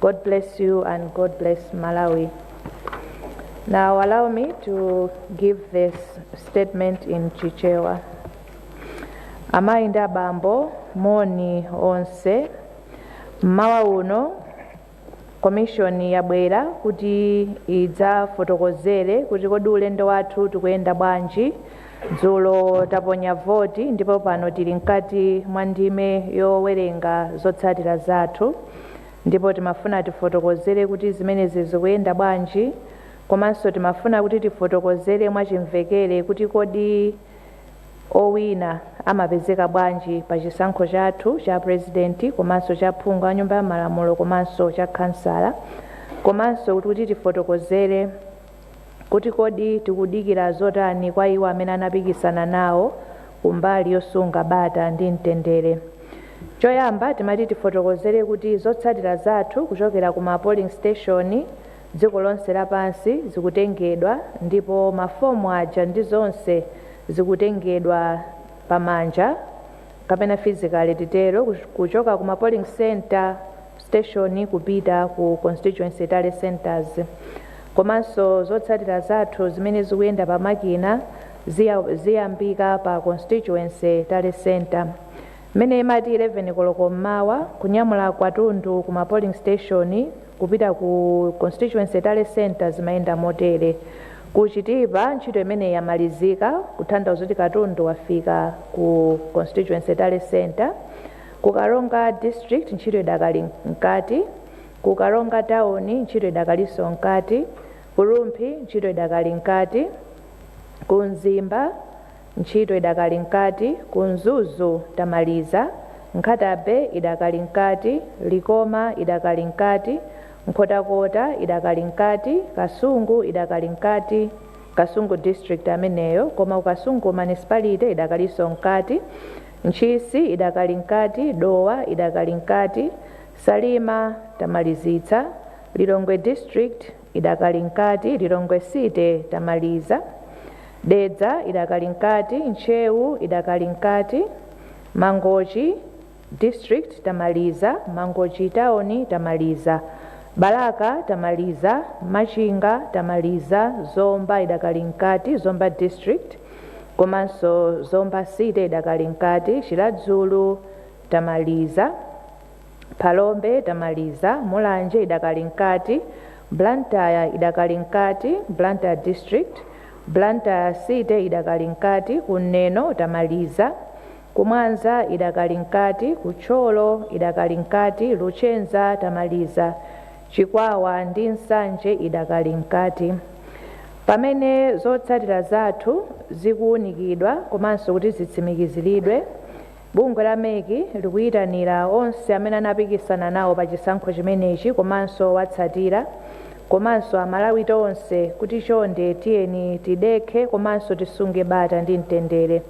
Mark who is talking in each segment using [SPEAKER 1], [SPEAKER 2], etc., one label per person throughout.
[SPEAKER 1] God bless you and God bless Malawi. Now allow me to give this statement in Chichewa. Amayi ndi abambo moni onse mmawa uno Commission yabwera kuti idzafotokozere kuti kodi ulendo wathu tikuyenda bwanji Dzulo taponya voti ndipo pano tili mkati mwa ndime yowerenga zotsatira zathu ndipo timafuna tifotokozere kuti zimenezi zikuyenda bwanji komanso timafuna kuti tifotokozere mwachimvekere kuti kodi owina amapezeka bwanji pa chisankho chathu cha pulezidenti komanso cha phungu wa Nyumba ya Malamulo komanso cha khansala komanso kuti tifotokozere kuti kodi tikudikira zotani kwa iwo amene anapikisana nawo kumbali yosunga bata ndi mtendere. Choyamba timati tifotokozere kuti zotsatira zathu kuchokera ku ma polling station dziko lonse lapansi zikutengedwa ndipo ma form aja ndi zonse zikutengedwa pa manja kapena physically titero, kuchoka ku ma polling centre, station, kupita ku constituency tally centres. Komanso zotsatira zathu zimene zikuyenda pa makina ziyambika pa constituency tally centre. Mmene imati 11 koloko mmawa, kunyamula katundu ku ma polling station, Kupita ku Constituency Tally Centre zimayenda motere, Ku Chitipa ntchito imeneyi yamalizika kutanthauza kuti katundu wafika ku Constituency Tally Centre. Ku Karonga District ntchito idakali mkati. Ku Karonga Town ntchito idakalinso mkati. Ku Rumphi ntchito idakali mkati. Ku Mzimba. Ntchito idakali mkati, ku Mzuzu tamaliza, Nkhata-Bay idakali mkati, Likoma idakali mkati, Nkhotakota idakali mkati, Kasungu idakali mkati, Kasungu district ameneyo, koma ku Kasungu municipality idakalinso mkati, Ntchisi idakali mkati, Dowa idakali mkati, Salima tamalizitsa, Lilongwe district. idakali mkati, Lilongwe City tamaliza, Dedza idakali mkati, Ntcheu idakali mkati, Mangochi District tamaliza, Mangochi Town tamaliza, Balaka tamaliza, Machinga tamaliza, Zomba idakali mkati, Zomba District komanso Zomba City idakali mkati, Chiradzulu tamaliza. Phalombe tamaliza, Mulanje idakali mkati, Blantyre idakali mkati, Blantyre district, Blantyre city idakali mkati, ku Neno tamaliza, ku Mwanza idakali mkati, ku Thyolo idakali mkati, Luchenza tamaliza, Chikwawa ndi Nsanje idakali mkati. Pamene zotsatira zathu zikuwunikidwa komanso kuti zitsimikiziridwe, Bungwe la mec likuyitanira onse amene anapikisana nawo pa chisankho chimenechi komanso owatsatira komanso a Malawi tonse kuti chonde tiyeni tidekhe komanso tisunge bata ndi mtendere.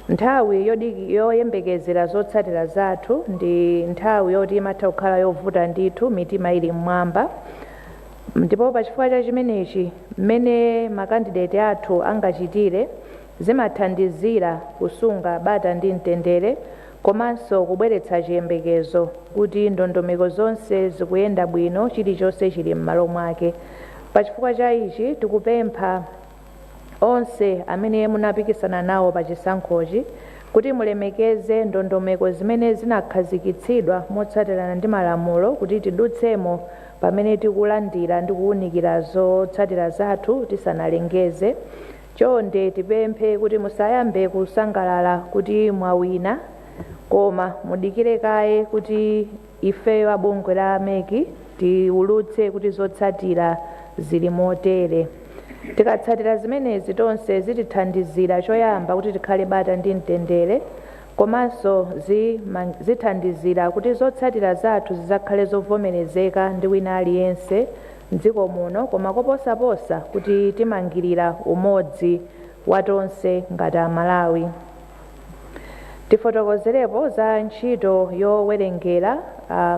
[SPEAKER 1] Nthawi yoyembekezera zotsatira zathu ndi nthawi yoti imatha kukhala yovuta ndithu mitima ili m'mwamba ndipo pachifukwa cha chimenechi mmene ma kandideti athu angachitire Zimathandizira kusunga bata ndi mtendere komanso kubweretsa chiyembekezo kuti ndondomeko zonse zikuyenda bwino, chilichonse chili m'malo mwake. Pachifukwa cha ichi, tikupempha onse amene munapikisana nawo pa chisankhochi kuti mulemekeze ndondomeko zimene zinakhazikitsidwa motsatirana ndi malamulo kuti tidutsemo pamene tikulandira ndi kuunikira zotsatira zathu tisanalengeze. Chonde tipemphe kuti musayambe kusangalala kuti mwawina koma mudikire kaye kuti ifeyo a bungwe la mec tiwulutse kuti zotsatira zili motere. Tikatsatira zimenezi tonse zitithandizira choyamba kuti tikhale bata ndi mtendere komanso zi ma zithandizira kuti zotsatira zathu zizakhale zovomerezeka ndi wina aliyense, m'dziko muno koma koposaposa kuti timangirire umodzi wa tonse ngati a Malawi. Tifotokozerepo za ntchito yowerengera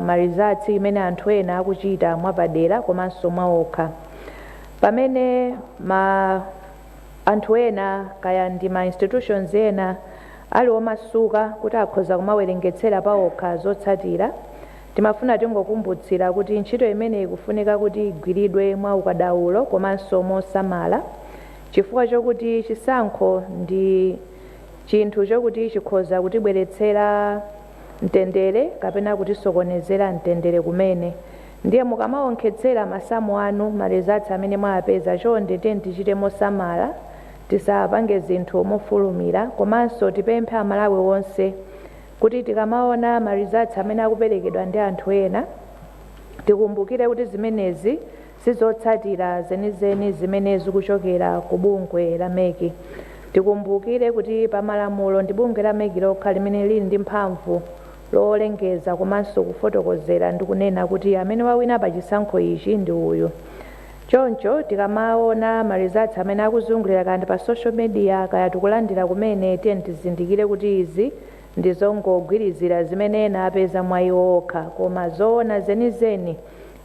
[SPEAKER 1] ma results imene anthu ena akuchita mwapadera komanso mwaokha. Pamene ma anthu ena kaya ndi ma institutions ena ali omasuka kuti akhoza kumawerengetsera paokha zotsatira, Timafuna tingokumbutsira kuti ntchito imeneyi ikufunika kuti igwiridwe mwa ukadaulo komanso mosamala chifukwa chokuti chisankho ndi chinthu chokuti chikhoza kutibweretsera mtendere kapena kutisokonezera mtendere kumene ndiye mukamaonkhetsera masamu anu ma results amene mwawapeza chonde tiyeni tichite mosamala tisapange zinthu mofulumira komanso tipemphe amalawi onse Kuti tikamaona ma results amene akuperekedwa ndi anthu ena, tikumbukire kuti zimenezi si zotsatira zenizeni zimene zikuchokera ku bungwe la mec. Tikumbukire kuti pa malamulo ndi bungwe la mec lokha limene lili ndi mphamvu lolengeza komanso kufotokozera ndi kunena kuti amene wawina pa chisankho ichi ndi uyu. Choncho tikamaona ma results amene akuzungulira kaya ndi pa social media kaya tikulandira kumene tiyeni tizindikire kuti izi ndi zongogwirizira zimene ena apeza mwa iwo okha koma zoona zenizeni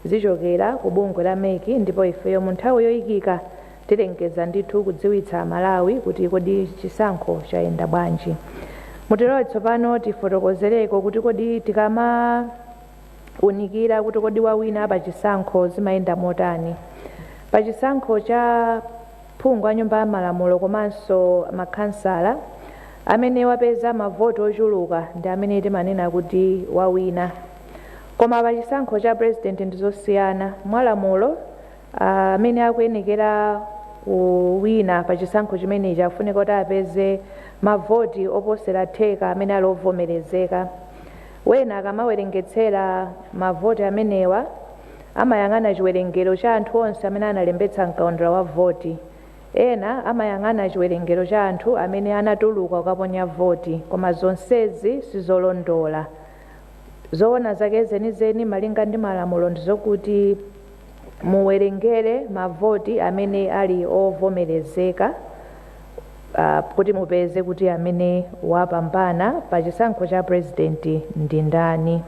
[SPEAKER 1] zichokera ku bungwe la mec ndipo ifeyo mu nthawi yoyikika tilengeza ndithu kudziwitsa Amalawi kuti kodi chisankho chayenda bwanji. Mutilole tsopano tifotokozereko kuti kodi tikama. unikira kuti kodi wawina pachisankho zimayenda motani. Pa chisankho cha phungu a nyumba ya malamulo komanso makhansala, amene wapeza mavoti ochuluka ndi amene timanena kuti wawina. Koma pa chisankho cha pulezidenti ndi zosiyana. Mwalamulo, amene akuyenekera kuwina pa chisankho chimenechi afunika kuti apeze mavoti oposera theka amene ali ovomerezeka. Wena akamawerengetsera mavoti amenewa amayang'ana chiwerengero cha anthu onse amene analembetsa m'kaundula wa voti. Ena amayang'ana chiwerengero cha anthu amene anatuluka kukaponya voti, koma zonsezi si zolondola. Zoona zake zenizeni malinga ndi malamulo ndi zokuti. muwerengere mavoti amene ali ovomerezeka kuti mupeze kuti amene wapambana pa chisankho cha purezidenti ndi ndani.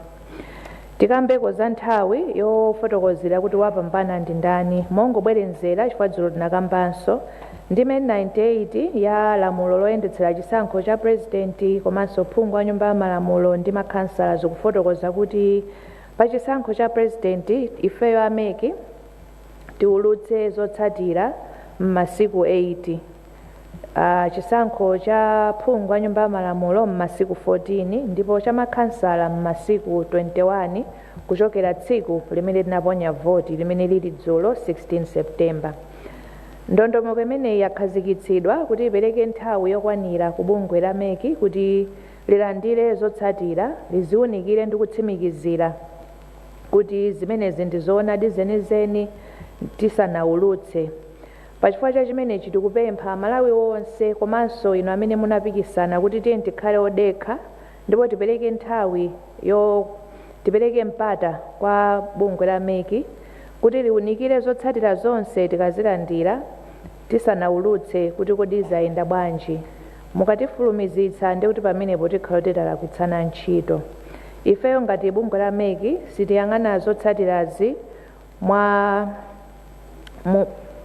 [SPEAKER 1] Tikambeko za nthawi yofotokozera kuti wapambana ndi ndani mongobwerenzera chifukwa dzulo tinakambanso ndime 98 ya lamulo loyendetsera chisankho cha purezidenti komanso phungu wa Nyumba ya Malamulo ndi makhansala zikufotokoza kuti Pa chisankho cha president ifeyo a mec tiulutse zotsatira mmasiku 8, chisankho cha phungu wa nyumba ya malamulo mmasiku 14 ndipo cha makhansala mmasiku 21 kuchokera tsiku limene tinaponya voti limene lili dzulo 16 September. Ndondomeko imeneyi yakhazikitsidwa kuti ipereke nthawi yokwanira ku bungwe la mec kuti lilandire zotsatira, liziunikire ndi kutsimikizira kuti zimenezi ndi zoonadi zenizeni tisanaulutse. Pa chifukwa cha chimenechi tikupempha Amalawi onse komanso inu amene munapikisana kuti tiyeni tikhale odekha ndipo tipereke nthawi yo tipereke mpata kwa bungwe la mec kuti liunikire zotsatira zonse tikazilandira tisanaulutse kuti kodi zayenda bwanji. Mukatifulumizitsa ndiye kuti pamenepo tikhala kuti talakwitsana ntchito. Ifeyo ngati bungwe la mec sitiyang'ana zotsatirazi mwa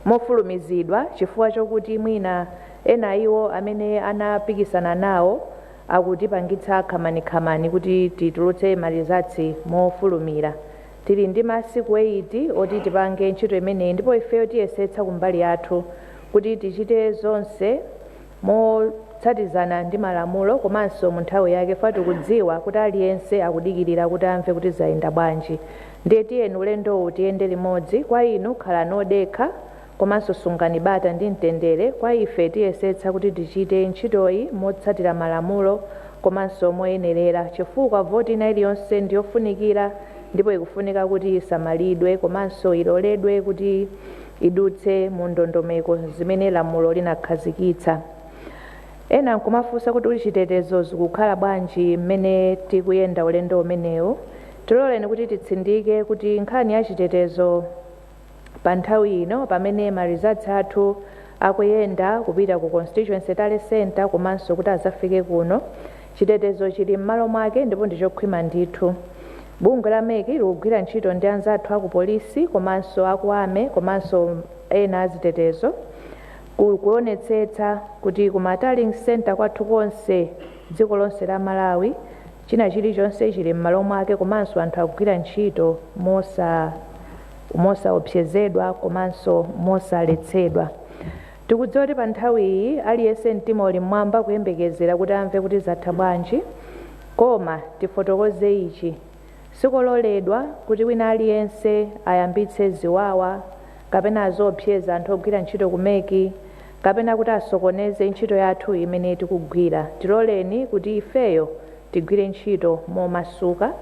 [SPEAKER 1] mofulumizidwa chifukwa chokuti mwina ena a iwo amene anapikisana nawo akutipangitsa khamani-khamani kuti titulutse ma results mofulumira. Tili ndi masiku eyiti oti tipange ntchito imeneyi ndipo ifeyo tiyesetsa kumbali yathu kuti tichite zonse motsatizana ndi malamulo komanso mu nthawi yake chifukwa tikudziwa kuti aliyense akudikirira kuti amve kuti zayenda bwanji. Ndiye tiyeni ulendowu tiyende limodzi. Kwa inu, khalani odekha, komanso sungani bata ndi mtendere kwa ife tiyesetsa kuti tichite ntchitoyi motsatira malamulo komanso moyenerera chifukwa voti ina iliyonse ndi yofunikira ndipo ikufunika kuti isamalidwe komanso iloledwe kuti idutse mu ndondomeko zimene lamulo linakhazikitsa. Ena nkumafunsa kuti uli chitetezo zikukhala bwanji mmene tikuyenda ulendo umenewu. Tiloleni kuti titsindike kuti nkhani ya chitetezo. Pa nthawi ino pamene ma results athu akuyenda kupita ku constituency tally centre komanso kuti azafike kuno, chitetezo chili mmalo mwake ndipo ndi chokhwima ndithu. Bungwe la mec likugwira ntchito ndi anzathu aku police komanso aku army komanso ena azitetezo kuonetsetsa kuti ku ma tallying centre kwathu konse dziko lonse la Malawi china chilichonse chili mmalo mwake komanso anthu akugwira ntchito mosa mosaopsezedwa komanso mosaletsedwa. Tikudziwa kuti pa nthawi iyi aliyense mtima uli m'mwamba kuyembekezera kuti amve kuti zatha bwanji. Koma tifotokoze ichi, sikololedwa kuti wina aliyense ayambitse ziwawa kapena aziopseza anthu ogwira ntchito ku mec kapena kuti asokoneze ntchito yathu imene tikugwira. Tiloleni kuti ifeyo tigwire ntchito momasuka.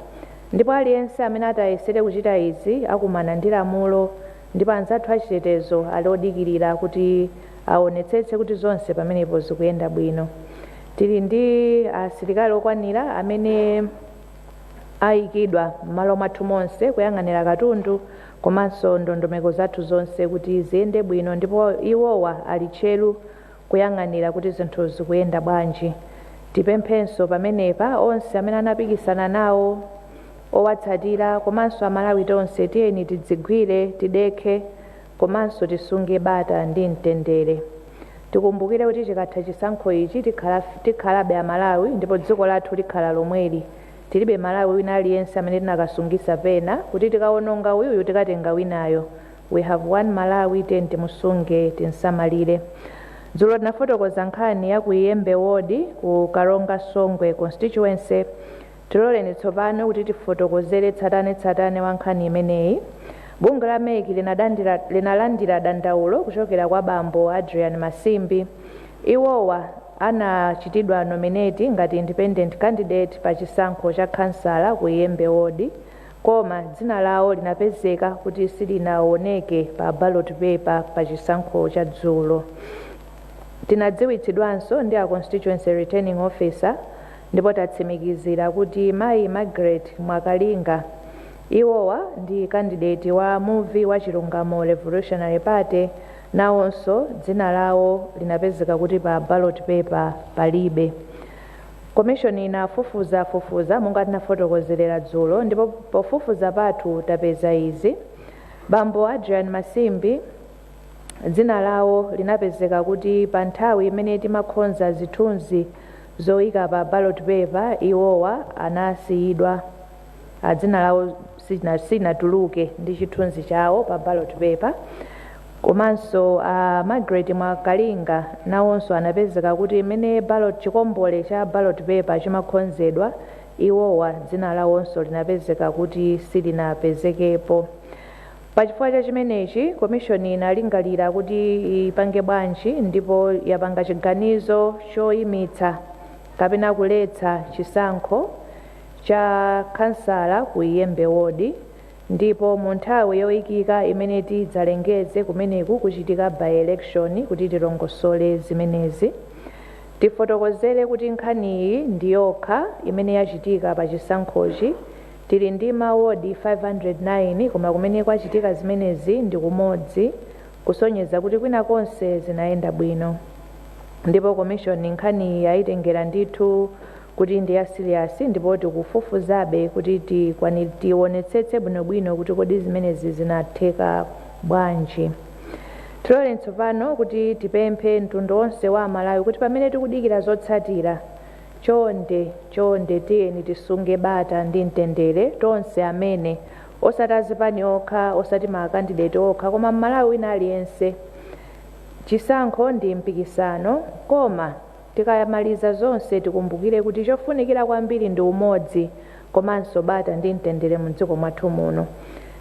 [SPEAKER 1] Ndipo aliyense amene ati ayesere kuchita izi akumana ndi lamulo, ndipo anzathu achitetezo ali odikirira kuti awonetsetse kuti zonse pamenepo zikuyenda bwino. Tili ndi asilikali okwanira amene ayikidwa m'malo mwathu monse kuyang'anira katundu komanso ndondomeko zathu zonse kuti ziyende bwino ndipo iwowa ali tcheru kuyang'anira kuti zinthu zikuyenda bwanji. Tipemphenso pamenepa onse amene anapikisana nawo, owatsatira komanso amalawi tonse tiyeni tidzigwire, tidekhe komanso tisunge bata ndi mtendere. Tikumbukire kuti chikatha chisankho ichi tikhalabe amalawi ndipo dziko lathu likhala lomweli. Tilibe malawi wina aliyense amene tinakasungisa pena kuti tikawononga uyuyu tikatenga winayo. We have one Malawi tiyeni timusunge tinsamalire. Dzulo tinafotokoza nkhani ya ku Iyembe ward ku Karonga Songwe constituency tiloleni tsopano kuti tifotokozere tsatane tsatane wa nkhani imeneyi. Bungwe la mec linadandira, linalandira dandaulo kuchokera kwa bambo Adrian Masimbi. Iwowa anachitidwa nominate ngati independent candidate pa chisankho cha khansala ku Iyembe ward. Koma dzina lawo linapezeka kuti silinawoneke pa ballot paper pa chisankho cha dzulo. Tinadziwitsidwanso ndi a Constituency Returning Officer ndipo tatsimikizira kuti mayi Margaret Mwakalinga, iwowa ndi candidate wa muvi wa Chilungamo Revolutionary Party, nawonso dzina lawo linapezeka kuti pa ballot paper palibe. Komishoni inafufuza fufuza monga tinafotokozera dzulo ndipo pofufuza pathu tapeza izi, Bambo Adrian Masimbi dzina lawo linapezeka kuti pa nthawi imene timakhonza zithunzi zoika pa ballot paper iwowa anasiyidwa. a dzina lawo sichina- sichinatuluke ndi chithunzi chawo pa ballot paper komanso a margaret mwakalinga nawonso anapezeka kuti mmene ballot chikombole cha ballot paper chimakhonzedwa iwowa dzina lawonso linapezeka kuti silinapezekepo pachifukwa cha chimenechi komishoni inalingalira kuti ipange bwanji ndipo yapanga chiganizo choyimitsa kapena kuletsa chisankho cha khansala ku Iyembe Ward ndipo mu nthawi yoikika imene tidzalengeze kumeneku kuchitika by-election kuti tilongosole zimenezi. Tifotokozere kuti nkhaniyi ndi yokha imene yachitika pa chisankhochi. Tili ndi ma ward 509 koma kumene kwachitika zimenezi ndi kumodzi kusonyeza kuti kwina konse zinayenda bwino ndipo komishoni nkhaniyi yaitengera ndithu kuti ndi ya serious ndipo tikufufuzabe kuti tikwanil tionetsetse bwinobwino kuti kodi zimenezi zinatheka bwanji. Tiloleni tsopano kuti tipemphe mtundu onse wa Amalawi kuti pamene tikudikira zotsatira, chonde, chonde tiyeni tisunge bata ndi mtendere tonse amene, osati azipani okha, osati ma candidate okha koma Mmalawi wina aliyense. Chisankho ndi mpikisano koma. Tikamamaliza zonse tikumbukire kuti chofunikira kwambiri ndi umodzi komanso bata ndi mtendere mu dziko mwathu muno.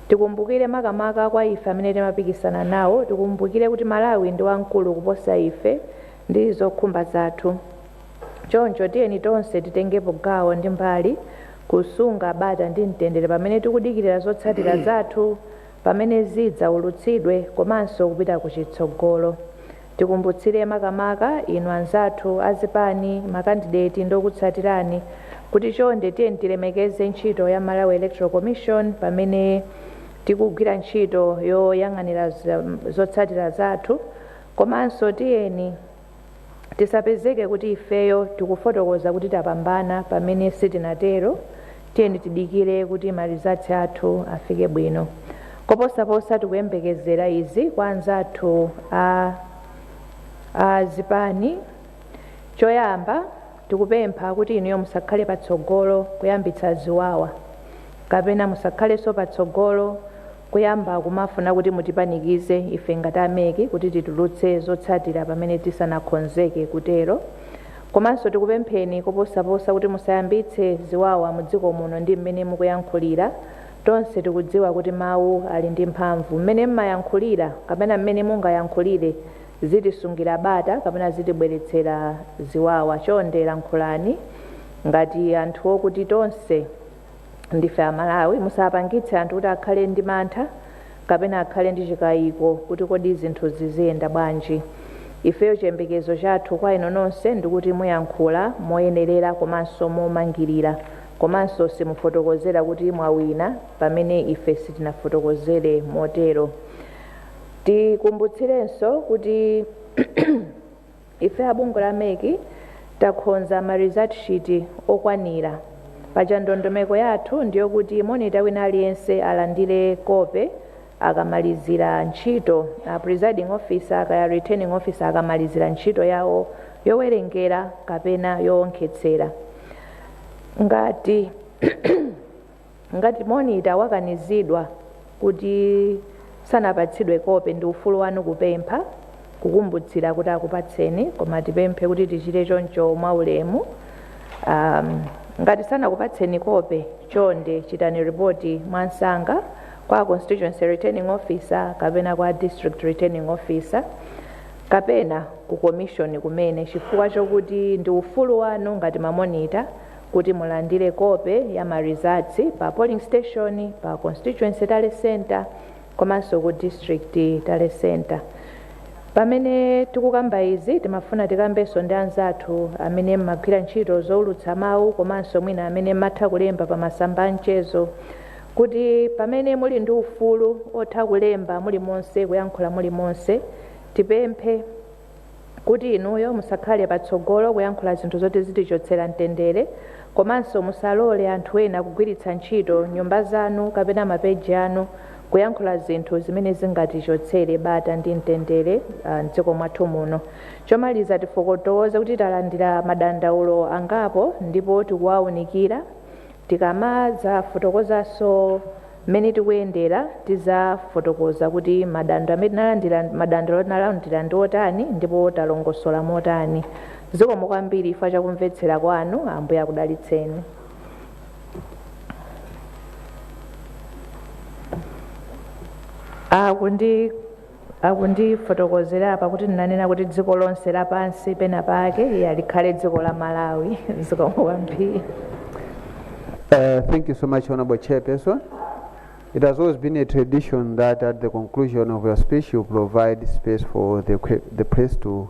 [SPEAKER 1] Tikumbukire makamaka kwa ife amene timapikisana nawo, tikumbukire kuti Malawi ndi wamkulu kuposa ife ndi zokhumba zathu. Choncho tiyeni tonse titengepo gawo ndi mbali kusunga bata ndi mtendere pamene tikudikirira zotsatira zathu pamene zidzaulutsidwe komanso kupita kuchitsogolo. Tikumbutsire makamaka inu anzathu a zipani, makandideti ndi okutsatirani kuti chonde tiyeni tilemekeze ntchito ya Malawi Electoral Commission pamene tikugwira ntchito yoyang'anira zotsatira zathu komanso tiyeni tisapezeke kuti ifeyo tikufotokoza kuti tapambana pamene sitinatero Tiyeni tidikire kuti ma results athu afike bwino. Koposaposa tikuyembekezera izi kwa anzathu a a zipani. Choyamba tikupempha kuti inuyo musakhale patsogolo kuyambitsa ziwawa kapena musakhalenso patsogolo Kuyamba kumafuna kuti mutipanikize ife ngati a MEC kuti titulutse zotsatira pamene tisanakhonzeke kutero. Komanso tikupempheni koposaposa kuti musayambitse ziwawa mu dziko muno ndi mmene mukuyankhulira. Tonse tikudziwa kuti mawu ali ndi mphamvu. Mmene mmayankhulira kapena mmene mungayankhulire zitisungira bata kapena zitibweretsera ziwawa. Chonde lankhulani ngati anthu okuti tonse. Ndife a Malawi, musapangitse anthu kuti akhale ndi mantha kapena akhale ndi chikayiko kuti kodi zinthu ziziyenda bwanji. Ifeyo chiyembekezo chathu kwa inu nonse ndikuti muyankhula moyenerera komanso momangirira komanso simufotokozera kuti mwawina pamene ife sitinafotokozere motero. Tikumbutsirenso kuti Ife a bungwe la MEC takhonza ma result sheet okwanira. Paja ndondomeko yathu ndiyokuti monita wina aliyense alandire kope akamalizira ntchito presiding officer kaya returning officer akamalizira ntchito yawo yowerengera kapena yoonkhetsera. Ngati. Ngati monita wakanizidwa kuti sanapatsidwe kope, ndi ufulu wanu kupempha kukumbutsira kuti akupatseni, koma tipemphe kuti tichite choncho mwaulemu. Um, ngati sanakupatseni kope, chonde chitani ripoti mwamsanga kwa constituency returning officer kapena kwa district returning officer kapena ku komishoni kumene chifukwa chokuti ndi ufulu wanu ngati mamonita Kuti mulandire kope ya ma results pa polling station, pa constituency tally centre komanso ku district tally centre. Pamene tikukamba izi timafuna tikambenso ndi anzathu amene mmagwira ntchito zoulutsa mawu komanso mwina amene mmatha kulemba pa masamba a mchezo kuti pamene muli ndi ufulu otha kulemba mulimonse, kuyankhula mulimonse, tipemphe. kuti inuyo musakhale patsogolo kuyankhula zinthu zoti zitichotsera mtendere komanso musalole anthu ena kugwiritsa ntchito nyumba zanu kapena mapeji anu kuyankhula zinthu zimene zingatichotsere bata ndi mtendere ah, m'dziko mwathu muno. Chomaliza tifotokoze kuti talandira madandaulo angapo ndipo tikuwaunikira Tikamadzafotokozanso mmene tikuyendera, tidzafotokoza kuti madando amene tinalandira, madandaulo tinalandira ndi otani ndipo talongosola motani. Zikomo kwambiri chifukwa cha kumvetsera kwanu. Ambuye akudalitseni. Akundi Akundifotokozera apa kuti ndinanena kuti dziko lonse lapansi pena pake ya likhale dziko la Malawi zikomo kwambiri.
[SPEAKER 2] Uh, thank you so much, Honorable Chairperson. It has always been a tradition that at the conclusion of your speech, you provide space for the presse to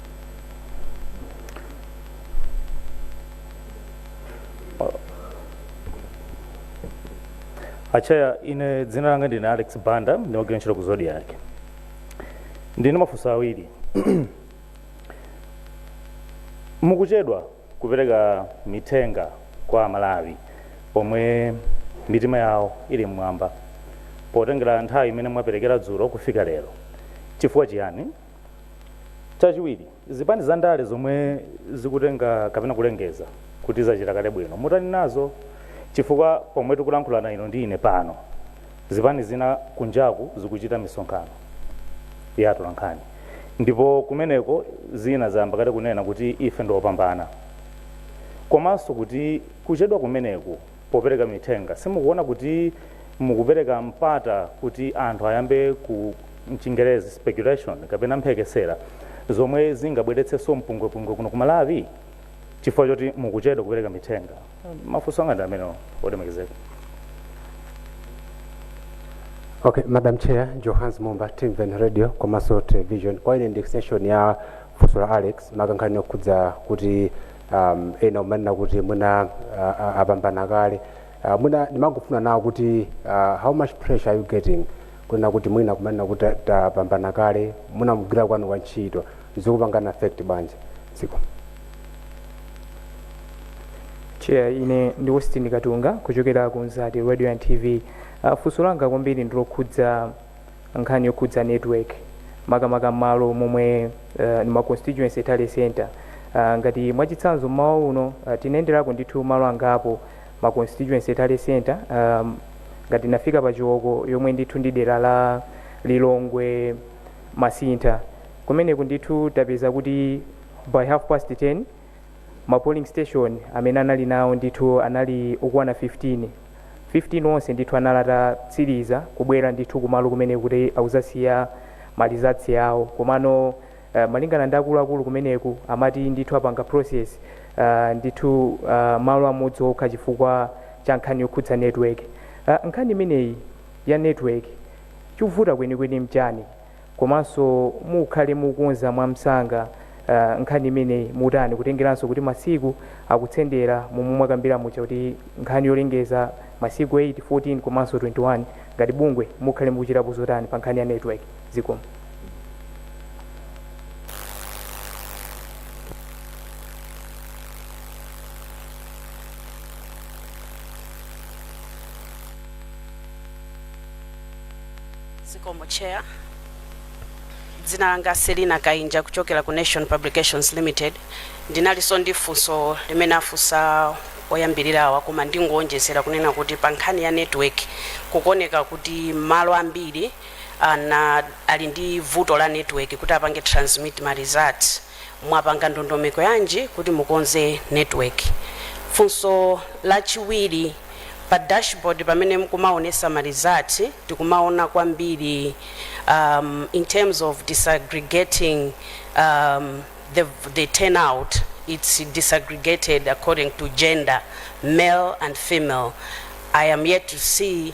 [SPEAKER 3] acheya ine dzina langa ndine alex banda ndimagwira ntchito ku Zodiak ndili ndi mafunso awiri mukuchedwa kupereka mithenga kwa amalawi pomwe mitima yawo ili mmwamba potengera nthawi imene mwaperekera dzulo kufika lero chifukwa chiyani Chachiwiri, zipani za ndale zomwe zikutenga kapena kulengeza kuti zachita kale bwino, mutani nazo? Chifukwa pomwe tikulankhulana inu ndi ine pano, zipani zina kunjaku zikuchita misonkhano ya atolankhani ndipo kumeneko zina zayamba kale kunena kuti ife ndi opambana komanso kuti kuchedwa kumeneku popereka mithenga. Simukuona kuti mukupereka mpata kuti anthu ayambe ku mchingerezi speculation kapena mphekesera zomwe zingabweretsenso mpungwepungwe kuno ku Malawi chifukwa choti mukuchedwa kupereka mithenga? Mafunso anga ndi amenewo
[SPEAKER 4] olemekezeka. Okay, Madam Chair, Johans Mumba, Timveni Radio, komanso Television. Kwa ine ndi extension ya funso la Alex, maka nkhani yokhudza kuti um, ena kumanena kuti mwina uh, uh, apambana kale uh, mwina ndimangofuna nawo kuti uh, how much pressure are you getting kunena kuti mwina kumanena kuti ta- tapambana kale mwina mugwira kwanu kwa ntchito zikupanga affect bwanji
[SPEAKER 5] zikomo cheya ine ndi westin katunga kuchokera ku mzati radio and tv uh, funso langa kwambiri ndilokhudza nkhani yokhudza network makamaka mmalo momwe muli ma constituency tally center uh, ngati mwachitsanzo mmawa uno uh, tinayenderako ndithu malo angapo ma constituency tally center um, ngati ndinafika pa chiwoko yomwe ndithu ndi dera la lilongwe masintha kumeneko ndithu tapeza kuti by half past 10 Ma polling station amene anali nawo ndithu anali okwana 15, 15 onse ndithu anali atatsiliza kubwera ndithu kumalo kumeneko kuti adzasiye ma results awo komano malingana ndi akuluakulu kumeneko amati ndithu apanga process ndithu malo amodzi okha chifukwa cha nkhani yokhudza network. Nkhani imeneyi ya network chikuvuta kwenikweni nchani? komanso mukhale mukukonza mwamsanga uh, nkhani imeneyi mutani kutengeranso kuti masiku akusendera momwe mwakambira muja kuti nkhani yolengeza masiku 8 14 komanso 21 ngati bungwe mukhale mukuchitapo zotani pa nkhani ya network zikomo
[SPEAKER 6] Zikomo Chair. Dzina langa Selina Kainja kuchokera ku Nation Publications Limited. Ndinalinso ndi funso limene afunsa oyambirirawa koma ndingowonjezera kunena kuti pa nkhani ya network kukuoneka kuti mmalo ambiri ana ali ndi vuto la network kuti apange transmit ma results Mwapanga ndondomeko yanji kuti mukonze network? Funso lachiwiri, pa dashboard pamene mukumaonesa ma result tikumaona kwambiri um, in terms of disaggregating um, the, the turnout it's disaggregated according to gender male and female I am yet to see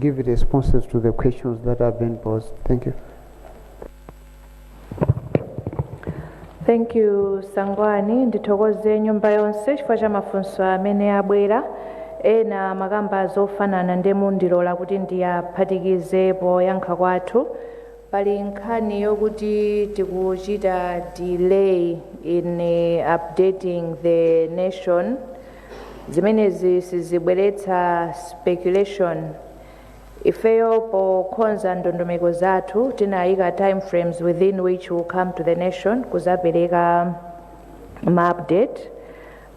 [SPEAKER 2] give responses to the questions that have been posed. Thank
[SPEAKER 1] you. thank you sangwani ndithokoze nyumba yonse chifukwa cha mafunso amene abwera ena amakamba zofanana ndiye mundilola kuti ndiyaphatikize poyankha kwathu pali nkhani yokuti tikuchita delay in eh, updating the nation zimenezi sizibweretsa speculation ifeyo pokhonza ndondomeko zathu tinayika time frames within which will come to the nation kuzapereka ma update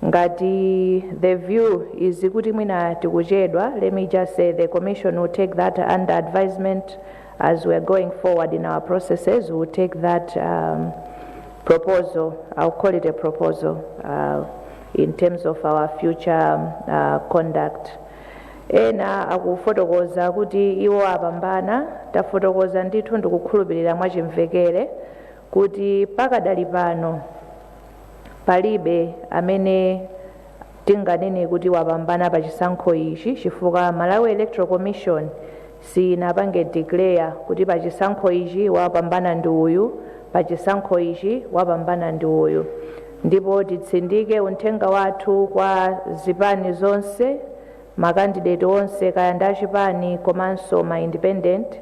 [SPEAKER 1] ngati the view is kuti mwina tikuchedwa let me just say the commission will take that under advisement as we are going forward in our processes we will take that um, proposal i'll call it a proposal uh, in terms of our future uh, conduct ena akufotokoza kuti iwo apambana tafotokoza ndithu ndikukhulupirira mwachimvekere kuti pakadali pano palibe amene tinganene kuti wapambana pa chisankho ichi chifukwa malawi electoral commission sinapange declare kuti pachisankho ichi wapambana ndi uyu, pachisankho ichi wapambana ndi uyu. Ndipo titsindike unthenga wathu kwa zipani zonse, ma candidate onse kaya ndi achipani komanso ma independent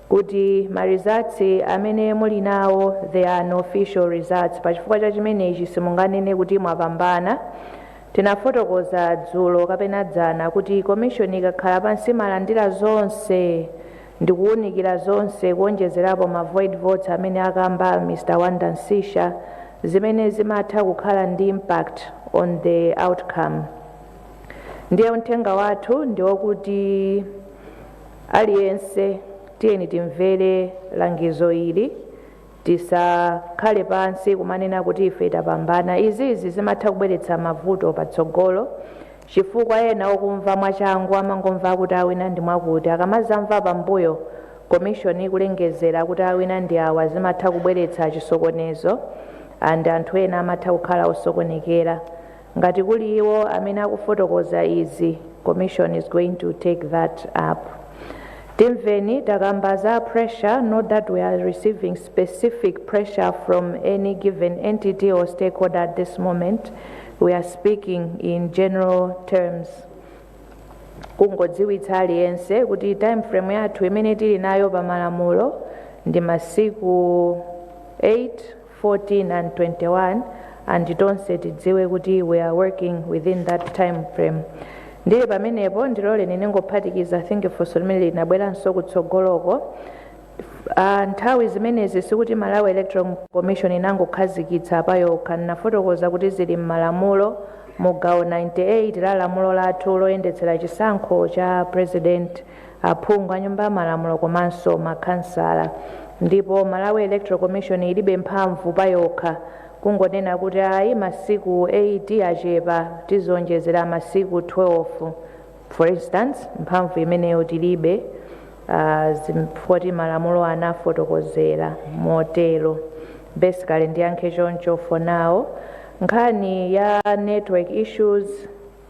[SPEAKER 1] kuti ma results amene muli nawo they are unofficial results. Pachifukwa cha chimenechi simunganene kuti mwapambana Tinafotokoza dzulo kapena dzana kuti Commission ikakhala pansi imalandira zonse ndikuwunikira zonse kuwonjezerapo ma void votes amene akamba Mr Wonder Msiska zimene zimatha kukhala ndi impact on the outcome. Ndiye unthenga wathu ndiwokuti aliyense tiyeni timvere langizo ili. Tisakhale pansi kumanena kuti ife tapambana. Izizi zimatha kubweretsa mavuto patsogolo chifukwa ena okumva mwachangu amangomva kuti awina ndi mwakuti akamazamva pambuyo commission ikulengezera kuti awina ndi awa zimatha kubweretsa chisokonezo and anthu ena amatha kukhala osokonekera. Ngati kuli iwo amene akufotokoza izi, commission is going to take that up. Timveni takamba za pressure, not that we are receiving specific pressure from any given entity or stakeholder at this moment. We are speaking in general terms. kungodziwitsa aliyense kuti time frame yathu imene tili nayo pa malamulo ndi masiku 8 14, 21 and tonse tidziwe kuti we are working within that time frame ndili pamenepo ndiloleni ndingophatikiza i think funso limene linabweranso kutsogoloko Ah, nthawi zimenezi sikuti malawi electoral commission inangokhazikitsa pa yokha ndinafotokoza kuti zili m'malamulo mu gawo 98 la lamulo lathu loyendetsera chisankho cha president aphungu a nyumba ya malamulo komanso ma khansala ndipo Malawi Electoral Commission ilibe mphamvu payokha kungonena kuti ayi masiku 8 achepa tizionjezera masiku 12 for instance mphamvu imeneyo tilibe ah, chifukwa choti malamulo anafotokozera motero basically ndiyankhe choncho for now nkhani ya network issues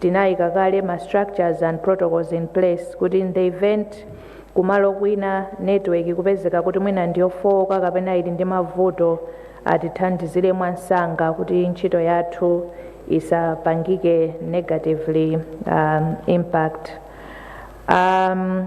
[SPEAKER 1] Tinaika kale ma structures and protocols in place kuti in the event kumalo kwina network ikupezeka kuti mwina ndiyofooka kapena ili ndi mavuto atithandizire mwamsanga kuti ntchito yathu isapangike negatively um, impact um,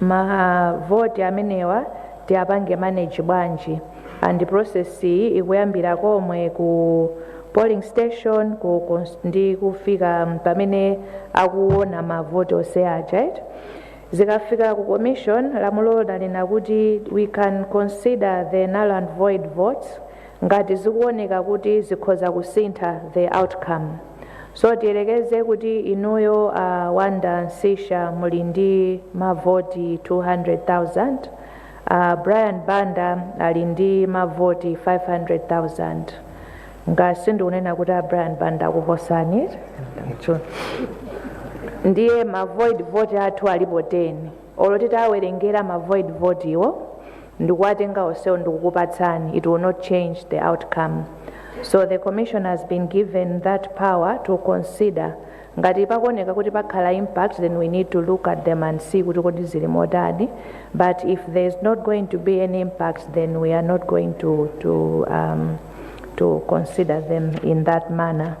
[SPEAKER 1] Ma vote amenewa tiapange manage bwanji and process iyi ikuyambira komwe ku polling station ku cons- ndi kufika pamene akuona ma vote onse aja eti zikafika ku commission lamulo limanena kuti we can consider the null and void votes Ngati zikuoneka kuti zikhoza kusintha the outcome. So tiyerekeze kuti inuyo a Wonder Msiska muli ndi mavoti 200,000, a Brian Banda ali ndi mavoti 500,000. Nga sindikunena kuti a Brian Banda akuposani. Ndiye ma void vote athu alipo 10. Olo titawerengera ma void vote wo ndikuwatenga onsewo ndikukupatsani it will not change the outcome so the commission has been given that power to consider ngati pakuoneka kuti pakhala impact then we need to look at them and see kuti kodi zili motani but if there is not going to be any impact then we are not going to, to, um, to consider them in that manner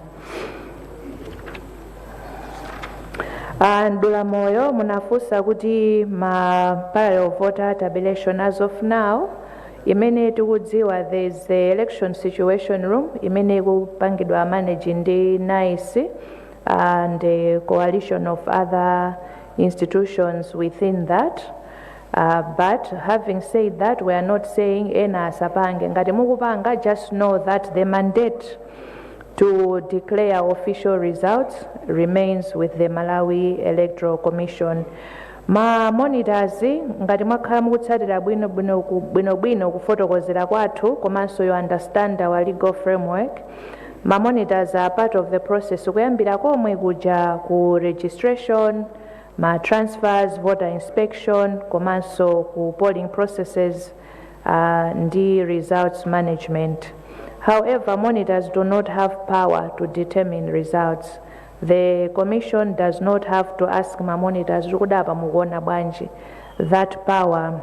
[SPEAKER 1] a Mdula Moyo munafunsa kuti ma parallel vote tabulation as of now imene tikudziwa there is the election situation room imene ikupangidwa manage ndi NICE and a coalition of other institutions within that Uh, but having said that we are not saying ena asapange ngati mukupanga just know that the mandate to declare official results remains with the Malawi Electoral Commission. Ma monitors ngati mwakhala mukutsatira bwino bwino ku- bwino bwino kufotokozera kwathu komanso you understand our legal framework. Ma monitors are part of the process kuyambira komwe kuja ku registration, ma transfers, voter inspection komanso ku polling processes uh, ndi results management however monitors do not have power to determine results the commission does not have to ask ma monitors kuti kodi apa mukuona bwanji that power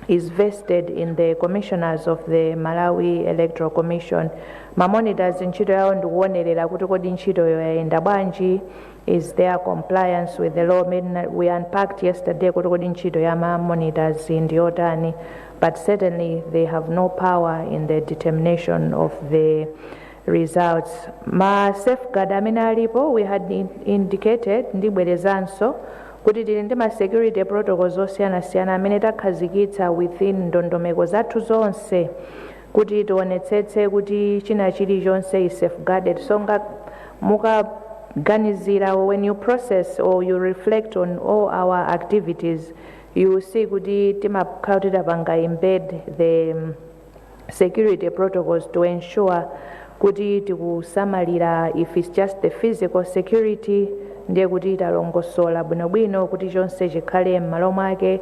[SPEAKER 1] is vested in the commissioners of the Malawi Electoral Commission ma monitors ntchito yawo ndikuonerera kuti kodi ntchitoyo yayenda bwanji is there compliance with the law we unpacked yesterday kuti kodi ntchito ya ma monitors ndi yotani but certainly they have no power in the determination of the results ma safeguard amene alipo we had in- indicated ndibwerezanso kuti tili ndi ma security protocols osiyanasiyana amene takhazikitsa within ndondomeko zathu zonse kuti tionetsetse kuti china chili chonse is safeguarded so mukaganizira when you process or you reflect on all our activities you will see kuti timakhala kuti tapanga embed the um, security protocols to ensure kuti tikusamalira if it's just the physical security ndiye kuti talongosola bwinobwino kuti chonse chikhale m'malo mwake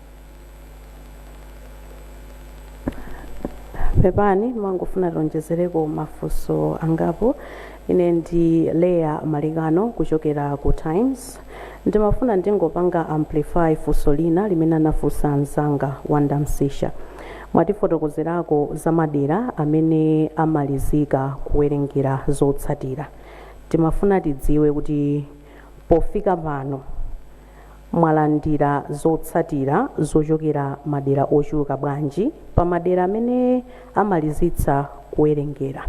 [SPEAKER 7] pepani mwangofuna tionjezereko mafunso angapo ine ndi leah malekano kuchokera ku times ndimafuna ndingopanga amplify funso lina limene anafunsa mzanga wanda msisha mwatifotokozerako za madera amene amalizika kuwerengera zotsatira timafuna tidziwe kuti pofika pano Mwalandira zotsatira zochokera madera ochuluka bwanji pa madera amene amalizitsa kuwerengera?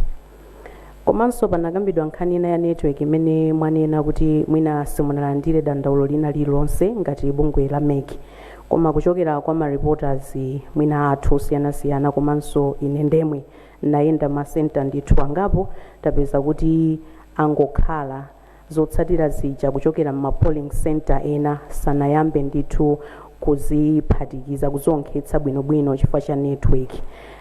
[SPEAKER 7] Komanso panakambidwa nkhani ina ya network imene mwanena kuti mwina simunalandire dandaulo lina lililonse ngati bungwe la mec koma kuchokera kwa ma reporters mwina athu osiyanasiyana komanso ine ndemwe nayenda ma centre ndithu angapo tapeza kuti angokhala zotsatira zija kuchokera mma polling centre ena sanayambe ndithu kuziphatikiza kuzionkhetsa bwino bwino chifukwa cha network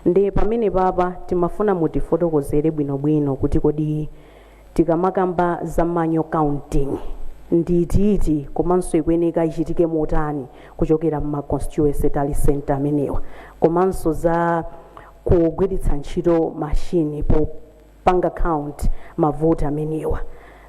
[SPEAKER 7] ndi pamenepapa timafuna mutifotokozere bwino bwino kuti kodi tikamakamba za manual counting ndi itiiti komanso ikuyeneka ichitike motani kuchokera mma constituency tally centre amenewa komanso za kugwiritsa ntchito mashini po panga count ma vote amenewa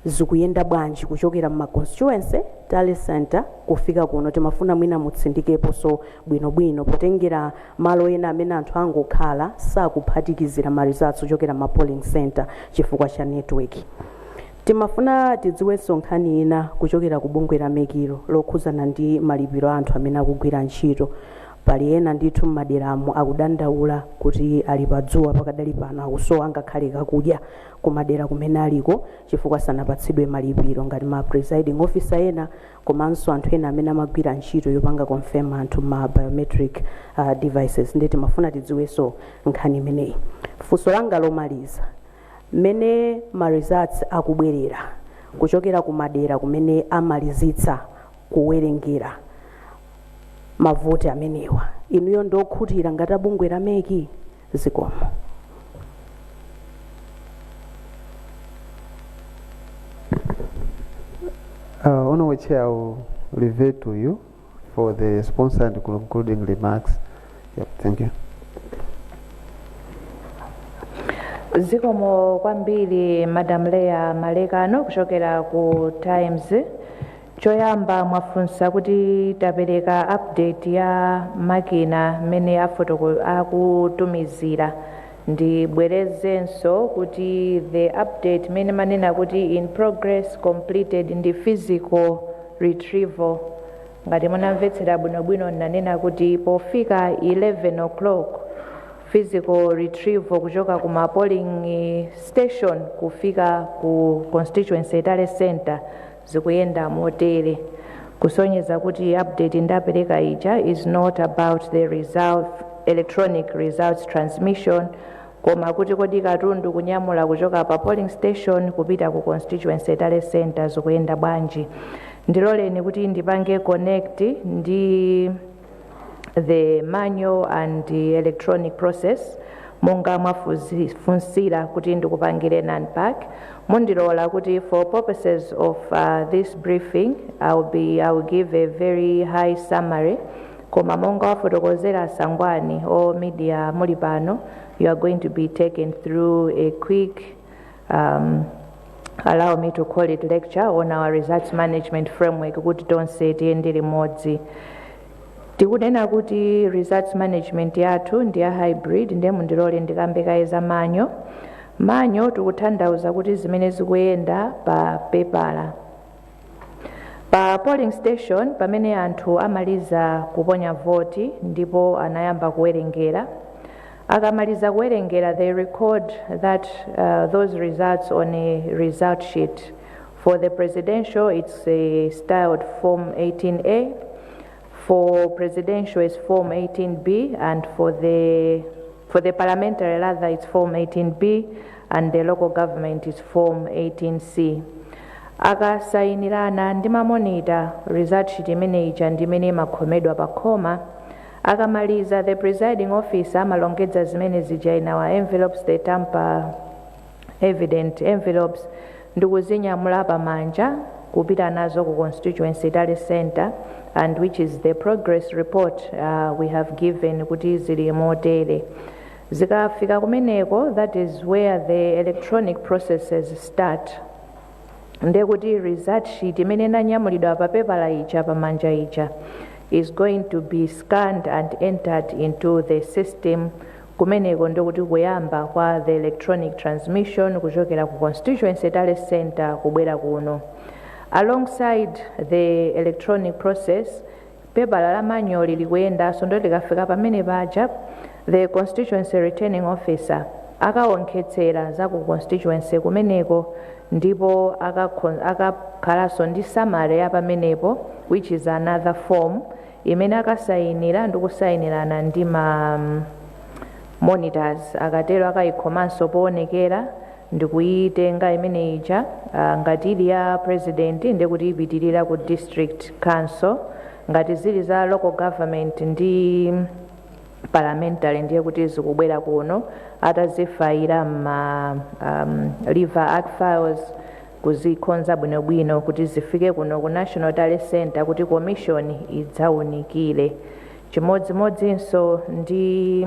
[SPEAKER 7] zikuyenda bwanji kuchokera mma constituency tally centre kufika kuno timafuna mwina mutsindikeposo bwino bwino potengera malo ena amene anthu angokhala sakuphatikizira ma results ochokera mma polling centre chifukwa cha network. Timafuna tidziweso nkhani ina kuchokera ku bungwe la mec lo lokhuzana ndi malipiro a anthu amene akugwira ntchito Pali ena ndithu m'maderamo akudandaula kuti ali pa dzuwa pakadali pano akusowa ngakhale kakudya ku madera kumene aliko chifukwa sanapatsidwe malipiro ngati ma presiding officer ena komanso anthu ena amene amagwira ntchito yopanga confirm anthu mma biometric uh, devices ndi timafuna tidziwenso nkhani imeneyi funso langa lomaliza mmene ma results akubwerera kuchokera ku madera kumene amalizitsa kuwerengera mavoti amenewa inuyo ndi okhutira ngati bungwe la MEC
[SPEAKER 2] zikomo Uh, Honorable Chair, I will revert to you for the response and concluding remarks. Yep, thank
[SPEAKER 1] you. zikomo kwambiri madam Leah Malekano kuchokera ku times Choyamba mwafunsa kuti tapereka update ya makina mmene afotoko akutumizira ndibwerezenso kuti the update imene ndimanena kuti in progress, completed ndi physical retrieval ngati munamvetsera bwinobwino ndinanena kuti pofika 11:00 physical retrieval kuchoka ku ma polling station kufika ku constituency tally centre zikuyenda motere kusonyeza kuti update ndapereka ija is not about the result, electronic results transmission koma kuti kodi katundu kunyamula kuchoka pa polling station kupita ku constituency tally centre zikuyenda bwanji ndiloleni kuti ndipange connect ndi the manual and the electronic process monga mwafunsira kuti ndikupangireni unpack mundilola kuti for purposes of uh, this briefing I'll be, I'll give a very high summary koma monga wafotokozera Sangwani a media muli pano you are going to be taken through a quick um, allow me to call it lecture on our results management framework kuti tonse tiyende limodzi tikunena kuti results management yathu ndi ya hybrid ndiye mundilole ndikambe kaye za manual manual tikutanthauza kuti zimene zikuyenda pa pepala Pa polling station pamene anthu amaliza kuponya voti ndipo anayamba kuwerengera, akamaliza kuwerengera they record that uh, those results on a result sheet. For the presidential it's uh, styled form 18A, for presidential it's form 18B and for the for the parliamentary rather it's form 18B and the local government is form 18C. Akasainirana ndi ma monitor, result sheet imene ija ndi imene imakhomedwa pa khoma. Akamaliza, the presiding officer amalongedza zimene zija in our envelopes, the tamper evident envelopes, ndikuzinyamula pa manja kupita nazo ku constituency tally centre and which is the progress report uh, we have given kuti zili motere. Zikafika kumeneko that is where the electronic processes start ndiye kuti result sheet imene inanyamulidwa pa pepala ija pamanja ija is going to be scanned and entered into the system kumeneko ndikuti kuyamba kwa the electronic transmission kuchokera ku constituency tally centre kubwera kuno alongside the electronic process Pepala la manyuwali likuyendanso nde likafika pamene paja the constituency returning officer akawonkhetsera za ku constituency kumeneko ndipo akakhon akakhalanso ndi summary ya pamenepo which is another form imene akasayinira ndi kusayinirana ndi ma monitors akatero akayikhomanso powonekera ndikuyitenga imene ija ah, ngati ili ya president ndiye kuti ipitirira ku district council ngati zili za local government ndi parliamentary ndiye kuti zikubwera kuno atazifayira ma um, lever arch files kuzikonza bwinobwino kuti zifike kuno ku national tally center kuti commission idzaunikire chimodzimodzinso ndi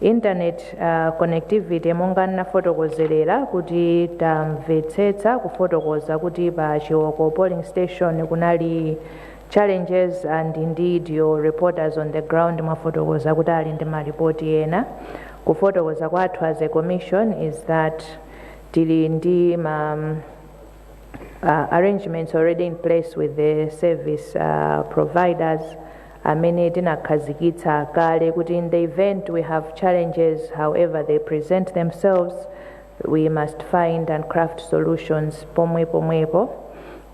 [SPEAKER 1] Internet connectivity monga nnafotokozelera kuti tamvetsetsa kufotokoza kuti pa Chiwoko polling station kunali challenges and indeed your reporters on the ground mwafotokoza kuti ali ndi malipoti ena kufotokoza kwathu as a commission is that tili ndi ma uh, arrangements already in place with the service uh, providers amene tinakhazikitsa kale kuti in the event we have challenges however they present themselves we must find and craft solutions pomwe pomwepo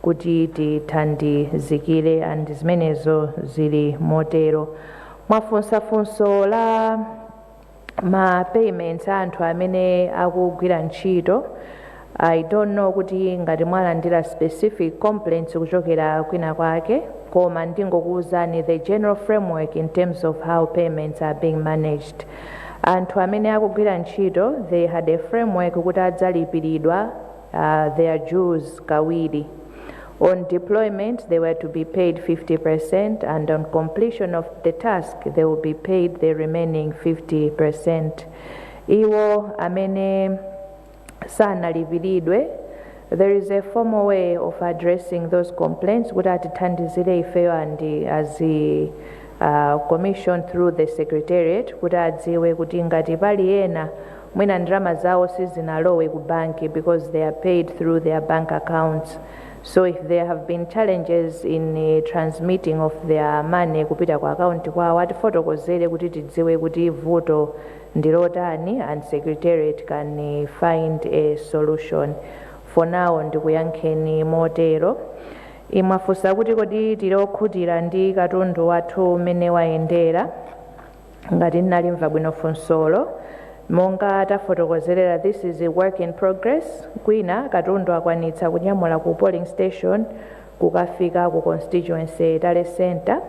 [SPEAKER 1] kuti tithandizikire and zimenezo zili motero mwafunsa funso la ma payments a anthu amene akugwira ntchito I don't know kuti ngati mwalandira specific complaints kuchokera kwina kwake koma ndingokuwuzani the general framework in terms of how payments are being managed anthu amene akugwira ntchito they had a framework kuti adzalipiridwa Uh, they are Jews kawiri. On deployment, they were to be paid 50%, and on completion of the task, they will be paid the remaining 50%. Iwo amene sanalipiridwe, there is a formal way of addressing those complaints kuti atithandizire ifeyo and as a uh, commission through the secretariat kuti adziwe kuti ngati pali ena mwina ndalama zawo sizinalowe ku banki because they are paid through their bank accounts so if there have been challenges in uh, transmitting of their money kupita ku akaunti kwawo atifotokozere kuti tidziwe kuti vuto ndilotani and secretariat can uh, find a solution for now ndikuyankheni motero mwafunsa kuti kodi tili okhutira ndi katundu wathu umene wayendera ngati ndinalimva bwino funsolo monga tafotokozerera this is a work in progress kwina katundu akwanitsa kunyamula ku polling station kukafika ku constituency tally center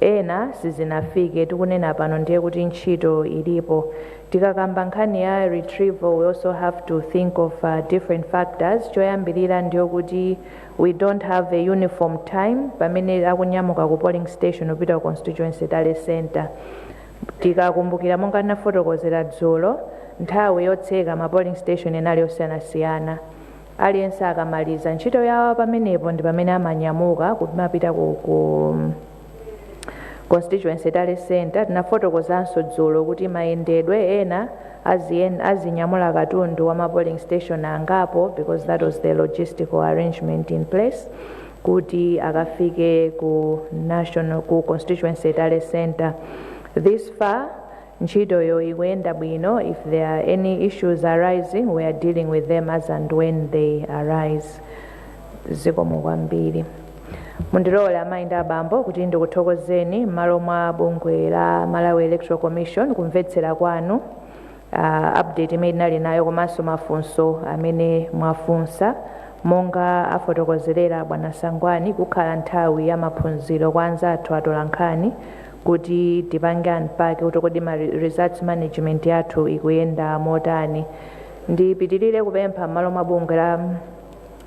[SPEAKER 1] ena sizinafike tikunena pano ndiye kuti ntchito ilipo tikakamba nkhani ya retrieval we also have to think of uh, different factors choyambirira ndiye kuti We don't have a uniform time pamene akunyamuka ku polling station kupita ku constituency tally centre. Tikakumbukira monga ndinafotokozera dzulo, nthawi yotseka ma polling station inali yosiyanasiyana. Aliyense akamaliza ntchito yawo pamenepo ndi pamene amanyamuka kumapita ku, ku Constituency Tally Centre. Tinafotokozanso dzulo kuti mayendedwe ena aziyen azinyamula katundu wa ma polling station angapo because that was the logistical arrangement in place kuti akafike ku national ku constituency tally centre this far Ntchitoyo ikuyenda bwino, if there are any issues arising we are dealing with them as and when they arise. Zikomo kwambiri. Mundilole amayi ndi abambo kuti ndikuthokozeni m'malo mwa bungwe la Malawi Electoral Commission kumvetsera kwanu uh, update imene tinali nayo komanso mafunso amene mwafunsa monga afotokozerera bwana Sangwani kukhala nthawi ya maphunziro kwa anzathu atolankhani kuti tipange unpack kuti kodi ma re- results management yathu ikuyenda motani ndipitirire kupempha m'malo mwa bungwe la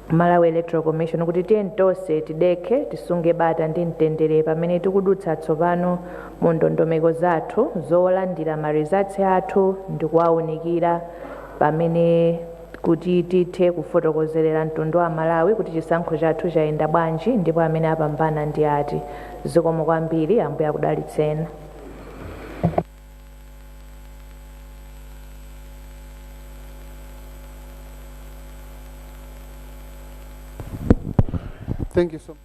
[SPEAKER 1] malawi electoral commission kuti tiyeni tonse tidekhe tisunge bata ndi mtendere pamene tikudutsa tsopano mu ndondomeko zathu zolandira ma results athu ndi kuwaunikira pamene kuti tithe kufotokozerera mtundu wa aMalawi kuti chisankho chathu chayenda bwanji ndipo amene apambana ndi ati. Zikomo kwambiri ambuye akudalitseni.
[SPEAKER 2] Thank you so much.